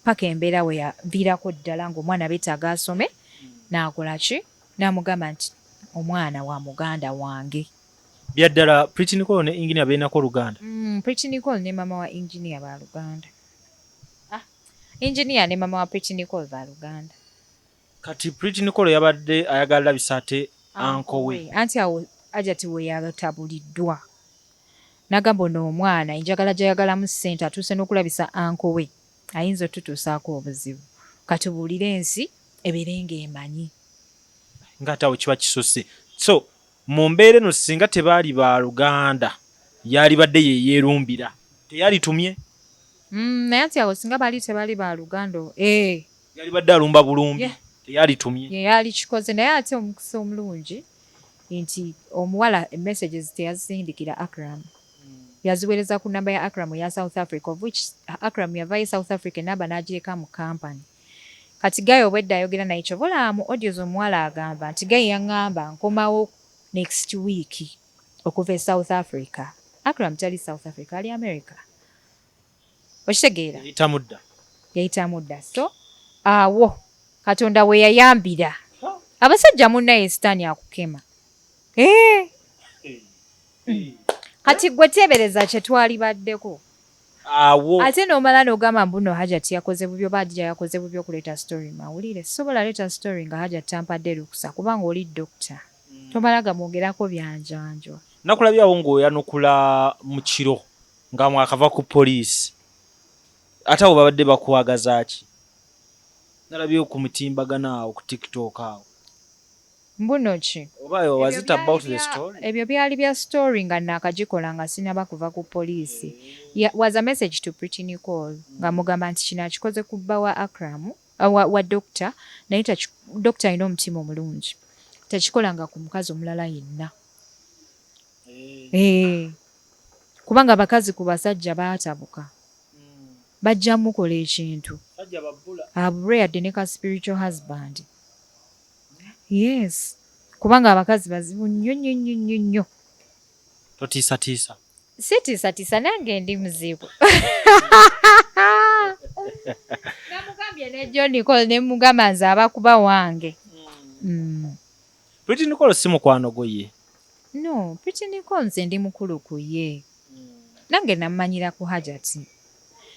Paka embeera we yaviirako ddala ng'omwana betaaga asome, n'akola ki? N'amugamba nti, Omwana wa muganda wange. Bya ddala Pretty Nicole ne Engineer belinako oluganda? Uhmm Pretty Nicole ne mama wa Engineer ba luganda. Ah Engineer ne mama wa Pretty Nicole ba luganda. Kati Pretty Nicole yabadde ayagala labisa ate Uncle we. Anti awo Ajati weyatabuliddwa nagamba ono omwana enjagala jayagalamu sente atuuse nokulabisa Uncle we. ayinza otutuusaako obuzibu katubuulire ensi ebeere ng'emanyi nga ate awo kiba kisuse so mu mbeera eno singa tebaali ba luganda yaalibadde yeyeerumbira teyalitumye mm, naye ati awo singa baali tebaali ba luganda eh. yalibadde alumba bulumbi yeah. teyalitumye ye yaali kikoze naye ate omukisa omulungi nti omuwala messages teyazisindikira akram yaziwereza ku number ya Akram eya South Africa of which Akram yavayo e South Africa enamba najireka mu company kati guy obwedda ayogera naye kyova olaba mu audio zomuwala agamba nti guy yangamba nkomawo next week okuva e South Africa Akram tali South Africa ali America okitegeera yayitamudda yayitamudda so awo katonda weyayambira abasajja munaye sitaani akukema eh. hmm. kati gwe teebereza kyetwali baddeko awo ate nomala nogamba mbuno hajat yakoze bubyo badira yakoze bubyo okuleeta story mawulire sobola leeta story nga hajat tampadde lukusa kubanga oli dokita hmm. tomala gamwogerako byanjanjwa nakulabyawo ngaoyanukula mukiro nga mwakava ku poliisi ate abo babadde bakwagazaki nalabye ku mutimbagano awo ku tiktok awo mbuno ki ebyo byali bya story nga nakagikola nga sinaba kuva ku poliisi was a message to pretty nicole nga mugamba nti kino akikoze ku bba wa akramu wa, wa dokita naye dokita alina omutima omulungi takikolanga ku mukazi omulala yenna hey. Eh. Eh. kubanga abakazi ku basajja baatabuka bajja mukola ekintu abulwe yadde ne ka spiritual husband yes kubanga abakazi bazibu nnyo nnyo nnyo nnyo nnyo totiisatiisa sitiisatiisa nange ndi muzibu namugambye ne john col ne mugamba nze abakuba wange mm. Mm. Pretty Nicole si mukwano gwo ye? No, Pretty Nicole nze ndi mukulu ku ye. Nange nammanyira ku Hajati.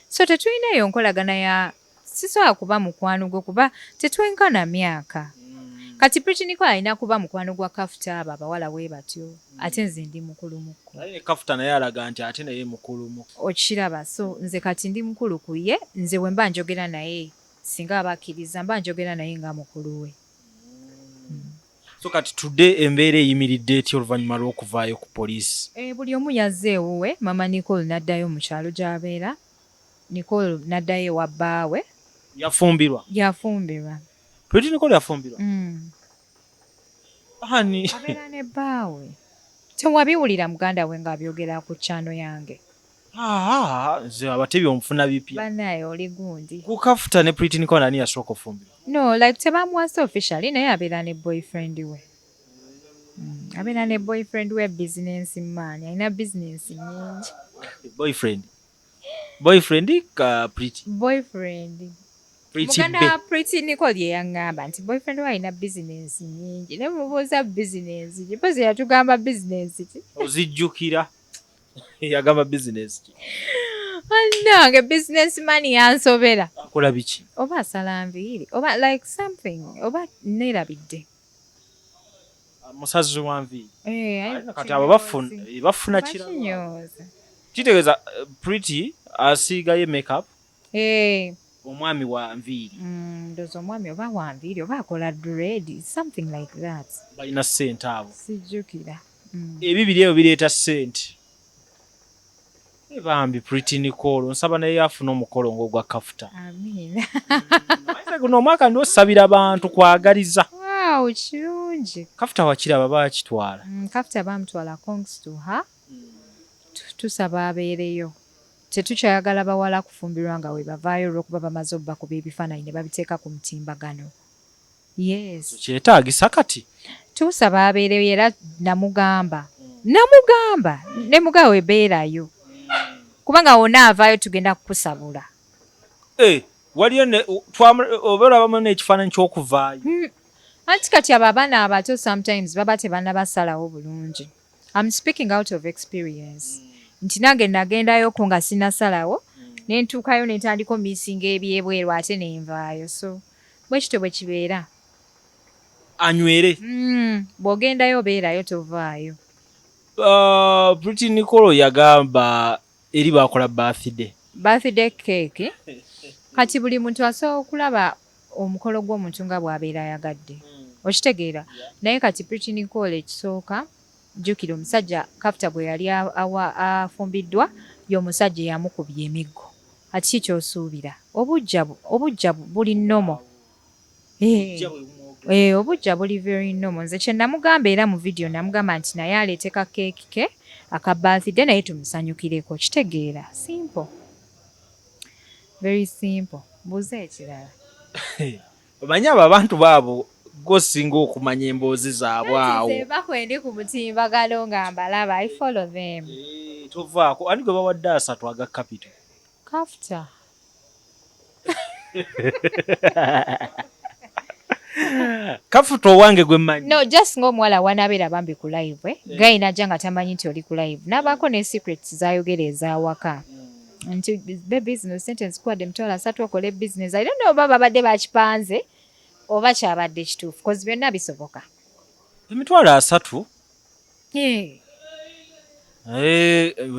So tetulina eyo nkolagana ya sisobola kuba mukwano gwe kuba tetwenkana myaka. Kati Pretty Nicole alina kuba mukwano gwa Kafuta abo abawala bwe batyo ate nze ndi mukulu mu kko. Naye ne Kafuta naye alaga nti ate naye mukulu mu kko. Okiraba so nze kati ndi mukulu ku ye, nze bwe mba njogera naye singa aba akkirizza mba njogera naye nga mukulu we. so kati tudde embeera eyimiridde etya oluvannyuma lw'okuvaayo ku poliisi eh, buli omu yazze ewuwe mama nicole n'addayo mu kyalo gy'abeera nicole n'addayo ewa bbaawe yafumbirwa yafumbirwa pretty nicole yafumbirwa mm. ani abeera ne bbaawe tewabiwulira muganda we ng'abyogera ku kyano yange Haa nze abatebi omufuna bipya. Banaye oli gundi. Ku kafuta ne pretty Nicole ani yasooka ofumbirwa? No like tebamuwasa officially naye abeera ne boyfriend we. Mm, abeera ne boyfriend we business man alina business nyingi. Boyfriend. Boyfriend ka pretty. Boyfriend. Pretty Muganda wa pretty Nicole ye yangamba nti boyfriend we alina business nyingi naye mubuuza business gye pozi yatugamba business ki. Ozijjukira. yagamba business ki nange business man yansobera akola biki oba asala nviiri oba like something oba nerabidde ah, musazi wa nviiri eh, kati abo eh, bafuna kirakinyoza kitegeeza eh, pretty asiigayo makeup Hey. omwami wa nviiri mm, ndoza omwami oba wa nviiri oba akola dread something like that balina sente abo sijjukira mm. ebibiri ebyo bireeta sente eh, bambi pretty nicole nsaba naye afuna omukolo ngaogwa kafuta guno omwaka ndi osabira bantu kwagaliza kirungi kafuta wakiraba bakitwala mm, kafuta bamutwala congs to her Tusaba abeereyo. Tetukyayagala bawala kufumbirwa nga webavaayo olwokuba bamaze obakuba ebifananyi nebabiteeka ku mutimbagano. Yes. Tukyetaagisa kati. Tusaba abeereyo era namugamba namugamba nemugamba we beerayo kubanga wona avaayo tugenda kukusabula. Eh, waliyo ne oba olabamu nekifaananyi kyokuvaayo. Hmm. Anti kati abo abaana abato sometimes baba tebanabasalawo bulungi. I'm speaking out of experience mm. nti nange nagendayo ko nga sinasalawo mm. nentuukayo nentandika omisinga ebyebweru ate nenvaayo so bwekityo bwe kibeera anywere mm, bwogendayo obeerayo tovaayo uh, pretty nicolo yagamba eri bakola birthday birthday cake kati buli muntu asobola okulaba omukolo gw'omuntu nga bw'abeera ayagadde hmm. okitegeera naye kati pretty nicole ekisooka jjukira omusajja kafuta gwe yali afumbiddwa y'omusajja eyamukubya emiggo kati ki kyosuubira obujja obujja buli nomo eh, eh, obujja buli very normal nze kyenamugamba era mu vidiyo namugamba nti naye aleeteka keeki ke aka birthday naye tumusanyukireko kitegeera simple very simple mbuuza ekirala omanyi abo abantu baabo gosinga okumanya emboozi zaabwe awo bakwendi ku mutimbagalo nga mbalaba i follow them eh, tovaako ani gwe bawadde asatu aga capital Kafta. kafuta owange gwe manyi no just nga omuwala wanabeera bambi ku live eh? yeah. gayi najja nga tamanyi nti oli ku live nabaako ne secrets zayogera ezawaka mm. nti be business sentence kuwadde emitwalo asatu okole business i don't know oba babadde bakipanze oba kyabadde kituufu kozi byonna bisoboka emitwalo asatu Eh,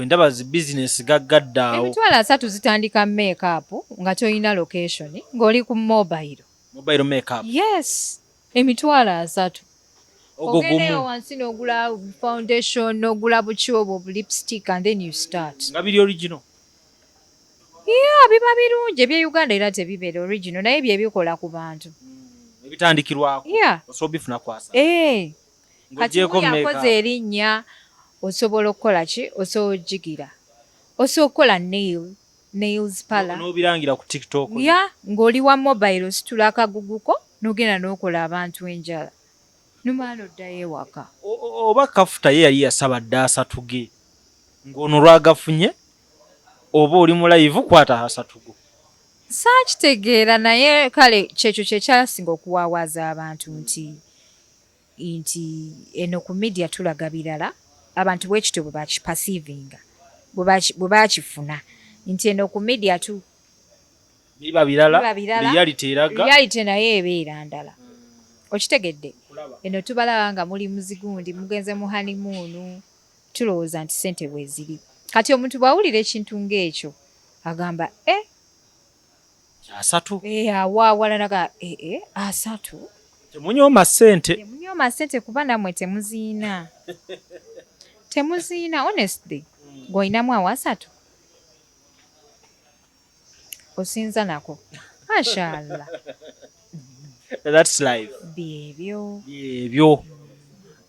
ndaba zi bizinesi gaggaddaawo emitwalo asatu zitandika makeup nga tolina location ng'oli ku mobile mobile makeup yes emitwalo asatu ogendeyo wansi n'ogula foundation n'ogula buki obwo bulipstick and then you start nga biri original ya biba birungi ebye uganda era tebibeera original naye byebikola ku bantu hmm, ebitandikirwako ya osobola bifuna kwasa eh. kati yakoze erinnya osobola okukola ki osobola ojigira osobola okukola nail nails pala nobirangira ku tiktok ya ng'oli wa mobile ositula akaguguko nogenda nokola abantu enjala numaana oddayo ewaka oba kafuta ye yali yasaba dda asatuge ng'ono lwagafunye oba oli mulayivu kwata hasatugo saakitegeera naye kale kyekyo kyekyasinga okuwawaaza abantu nti nti eno ku media tulaga birala abantu bwekityo bwebakipasivinga bwebakifuna nti eno ku media tu biba birala reality eraga reality naye ebeera ndala okitegedde eno tubalaba nga muli muzigundi mugenze mu hanimuunu tulowooza nti sente bweziri kati omuntu bwawulira ekintu ngaekyo agamba e eh, asatu eh, awa awalala ga eh, eh, asatu temunyooma ssente temunyooma ssente kuba namwe temuziina temuziina honestly hmm. gweolinamu awa asatu osinza nako mashallah that's life byebyo byebyo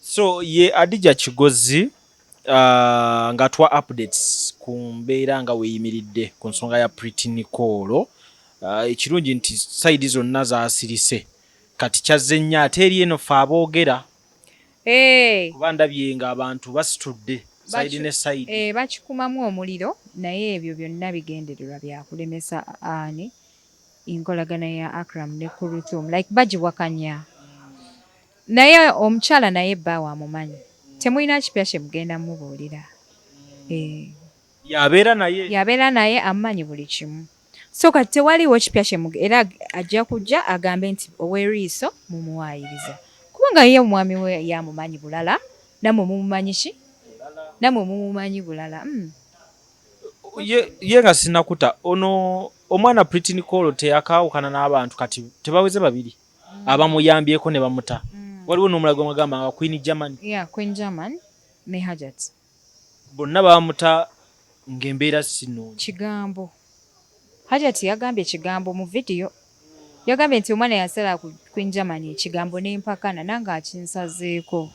so ye adija kigozi Uh, nga tuwa updates ku mbeera nga weyimiridde ku nsonga ya Pretty Nicole uh, ekirungi nti side zonna zasirise kati kyazze nnyo ate eri eno fe aboogera hey. kuba ndabye nga abantu basitudde side ne side hey, eh, bakikumamu omuliro naye ebyo byonna bigendererwa byakulemesa ani enkolagana ya Akram ne Kuruthum like bagiwakanya Naye omukyala naye bbaawe amumanyi temulina kipya kye mugenda mubuulira eeh. Y'abeera naye. Y'abeera naye amumanyi buli kimu so kati tewaliiwo kipya kye muge era ajja kujja agambe nti ow'eriiso mumuwaayiriza kubanga ye omwami we ye amumanyi bulala nammwe mumumanyi ki nammwe mumumanyi bulala uhm. Ye ye nga sinnakuta ono omwana Pretty Nicole teyakaawukana n'abantu kati tebaweze babiri? mm. abamuyambyeko ne bamuta mm. waliwo n'omulaga omagamba nga queen german yeah, queen german ne hajat bonna bamuta ng'embeera sino kigambo hajat yagambye ekigambo mu vidiyo yagambye nti omwana yasala ku queen german ekigambo n'empakana nange akinsazeeko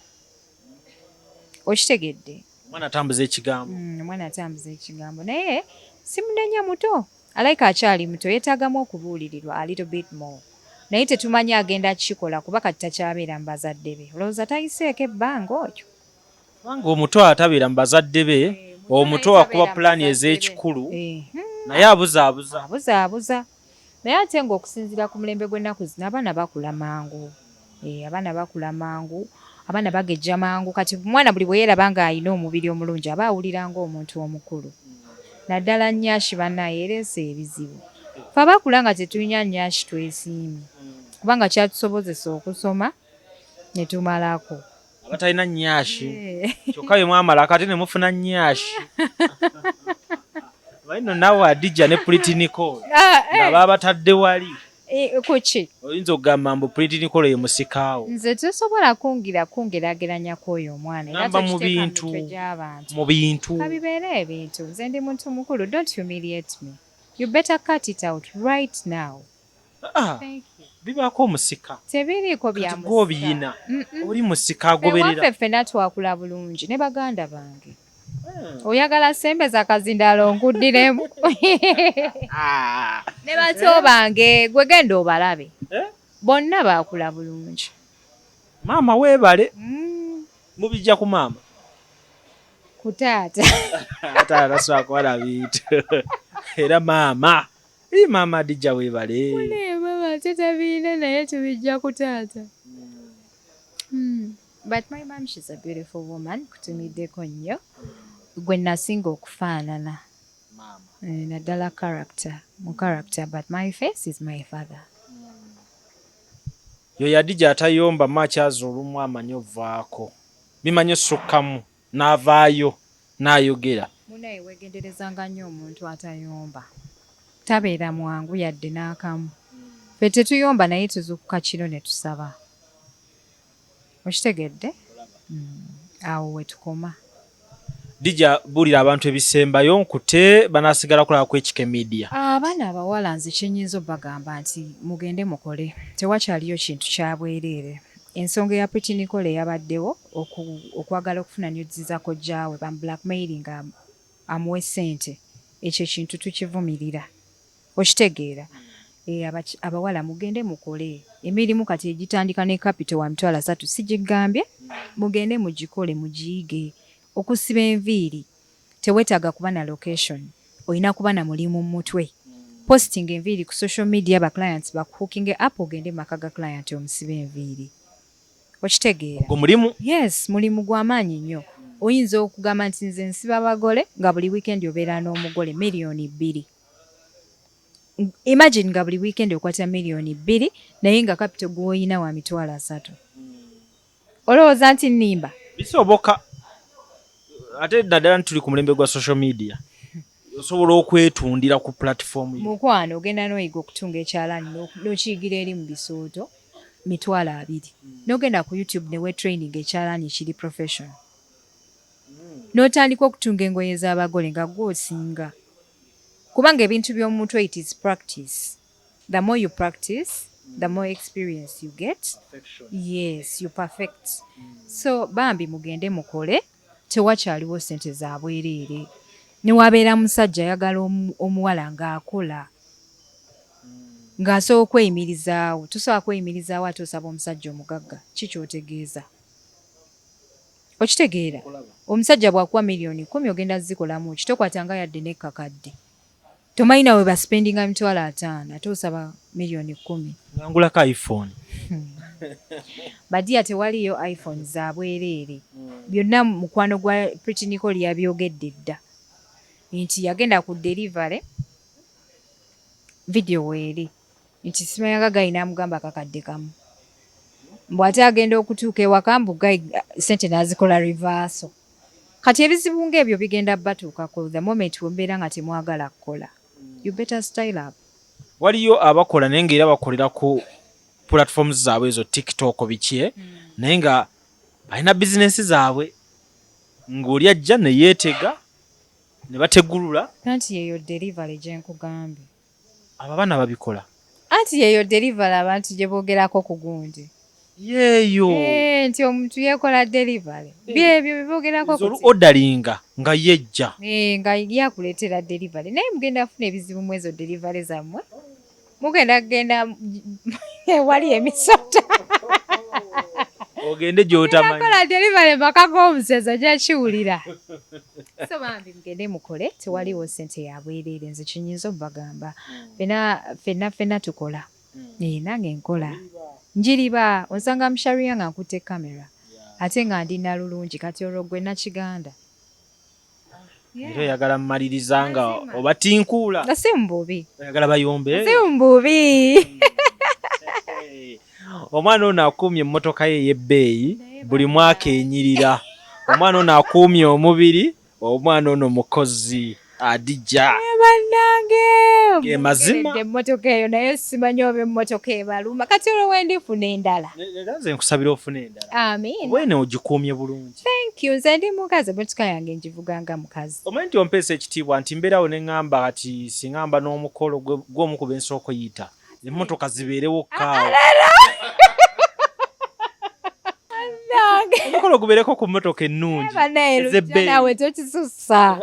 okitegedde omwana atambuza ekigambo mm, omwana atambuza ekigambo naye simunenya muto Alaika akyali muto yetagamu okubuulirirwa a little bit more naye tetumanyi agenda kikola kuba kati takyabeera mu bazadde be olowooza tayiseeko ebbanga oyo. Kubanga omuto atabeera mu bazadde be omuto wakuba pulaani ez'ekikulu naye abuzaabuza. Abuzaabuza naye ate ng'okusinziira ku mulembe gw'ennaku zino abaana bakula mangu Eh, abaana bakula mangu abaana bagejja mangu kati omwana buli bwe yeeraba ng'alina omubiri omulungi aba awulira ng'omuntu omukulu naddala nyashi banaye ereese ebizibu fe abakula nga tetulina nyashi twesiimye kubanga kyatusobozesa okusoma ne tumalako abatalina nyashi kyokka bye mwamala kati ne mufuna nyashi baino nawe adija ne pulitinikolo ah, eh. nga babatadde wali eh, kuki oyinza okugamba mbu pulitinikolo ye musikaawo nze tosobola kungira kungerageranya kwoyo omwana namba mu bintu mu bintu kabibeera ebintu nze ndi muntu mukulu don't humiliate me you better cut it out right now Ah, bibaako omusika tebiriiko byagobiyina oli musika agobereraffe ffena twakula bulungi ne baganda bange hmm. oyagala sembe zakazindalo nkuddiremu ah. ne bato bange gwe genda obalabe eh? bonna baakula bulungi maama weebale hmm. mubijja ku maama ku taata taata swakwala bintu era maama Ii maama Adija webale. Mune baba tata biina naye tubijja ku taata. Mm. But my mom she's a beautiful woman kutumiddeko nnyo gwe nasinga okufaanana eh, naddala character mu character but my face is my father yo yadija atayomba makyaza olumu amanyi ovaako bimanyi osukkamu navaayo nayogera. Munaye wegenderezanga nnyo omuntu atayomba tabeera mwangu yadde nakamu ffe tetuyomba naye tuzukuka kiro netusaba okitegedde awo wetukoma. Dija bulira abantu ebisembayo nkute banasigala kulaba kwekike media. Abana abawala nze kyenyinza obagamba nti mugende mukole tewakyaliyo kintu kyabwerere Ensonga eya Pretty Nicole eyabaddewo oku, okwagala okufuna nudes za kojja we, bamu blackmailinga amuwe ssente, ekyo ekintu tukivumirira. Okitegeera? Eh, abaki, abawala mugende mukole. Emirimu kati egitandika ne kapito wa mitwalo asatu sigiggambye, mugende mugikole, mugiyige. Okusiba enviiri. tewetaga kuba na location oyina kuba na mulimu mumutwe postinga enviiri ku social media ba clients baku hookinge up ogende mumaka ga client omusibe enviiri okitegeera ogwo mulimu yes mulimu gwamaanyi nyo oyinza okugamba nti nze nsiba bagole nga buli weekend obeera nomugole million bbiri imagine nga buli weekend okwata million bbiri naye nga capital gwoyina wa mitwalo asatu Olowooza nti nnimba? Bisoboka. Ate naddala nti tuli ku mulembe gwa social media. Osobola okwetundira ku platform. Mukwano ogenda n'oyiga okutunga ekyalaani n'okiyigira eri mu bisooto mitwalo abiri. N'ogenda ku YouTube ne weetrayininga ekyalaani ekiri professional. N'otandika okutunga engoye z'abagole nga ggwe osinga. Kubanga ebintu by'omu mutwe it is practice. The more you practice, the more experience you get. Perfection. Yes, you perfect. Mm. So bambi mugende mukole tewakyaliwo sente za bwereere. Newabeera musajja ayagala omuwala ng'akola ng'asobola okweyimirizaawo tusobola kweyimirizaawo ate osaba omusajja omugagga ki kyotegeeza okitegeera omusajja bwakuwa miliyoni kumi ogenda zikolamu kitokwata nga yadde nekkakadde tomanyi nawe ba spendinga emitwalo ataano ate osaba miliyoni kumi ngangulako iphone hmm. badiya tewaliyo iphone za bwereere hmm. byonna mukwano gwa pritiniko lyabyogedde dda nti yagenda ku delivery vidiyo weeri nti simayanga gayi namugamba akakadde kamu mbu ate agenda okutuuka ewaka mbu gayi sente nazikola reverso kati ebizibu ngaebyo bigenda batuukako the moment wembeera nga temwagala kukola you better style up waliyo abakola naye ngaera bakolera ku platforms zaabwe ezo tiktok bikye eh? mm. naye nga balina bizinesi zaabwe ng'oli ajja neyeetega ne bategulula anti yeyo delivery gyenkugambye Abo abana babikola. Anti yeyo deliver abantu gye bogerako ku gundi. Yeyo. Eh, nti omuntu yekola deliver. Eh. Byebyo bibogerako ku. Zolu odalinga nga yejja. Eh, nga ya kuletera deliver. Naye mugenda afuna ebizibu mwezo deliver zamwe. Mugenda genda wali emisota. Ogende gyotamanyi. Nakola deliver makago omuseza gya kiwulira. So bambi. Mugende mukole tewaliwo sente yabwerere nze kyenyinza obagamba fena fena fena tukola ee nange nkola njiriba onsanga msharia nga nkutte camera ate nga ndi nalulungi kati olwo gwe nakiganda Era oyagala mmaliriza nga obatinkuula. Nga si mububi. Oyagala bayombe. Si mububi. Omwana ono akuumye emmotoka ye ey'ebbeeyi buli mwaka enyirira. Omwana ono akuumye omubiri Omwana ono mukozi adija. Naye banange gemazima emotoka eyo naye simanyi oba emotoka ebaluma kati olwo wendifuna endala era nze nkusabira ofuna endala amin wene ogikuumye bulungi thank you nze ndi mukazi emotoka yange ngivuga nga mukazi omanyi nti ompeesa ekitiibwa nti mbeerawo ne ŋamba kati singamba n'omukolo gwomu ku bensooko yiita emmotoka zibeerewo kaawo omukolo gubeereko ku mmotoka ennungi ezebbeeyi tokisussa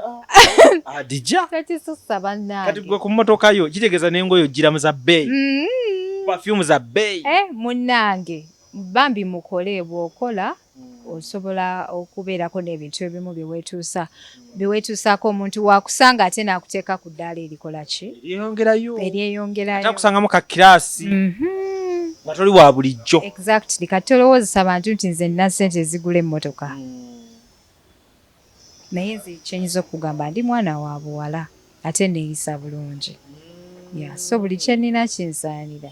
adija ah, tokisussa bannange kati gwe ku mmotoka yo kitegeeza n'engoyo ojjiramu za bbeeyi mm. perfume za bbeeyi eh, munnange bambi mukole bw'okola Osobola okubeerako n'ebintu ebimu bye weetuusa bye weetuusaako omuntu w'akusanga ate n'akuteeka ku ddaala erikola ki? Eryeyongerayo. Eryeyongerayo. Ate akusangamu ka kiraasi. Nga toli wa bulijjo. Exactly. Kati tolowoozesa bantu nti nze nnina ssente ezigula emmotoka. Naye nze kye nyinza okukugamba ndi mwana wa buwala ate nneeyisa bulungi. Yeah so buli kye nnina kinsaanira.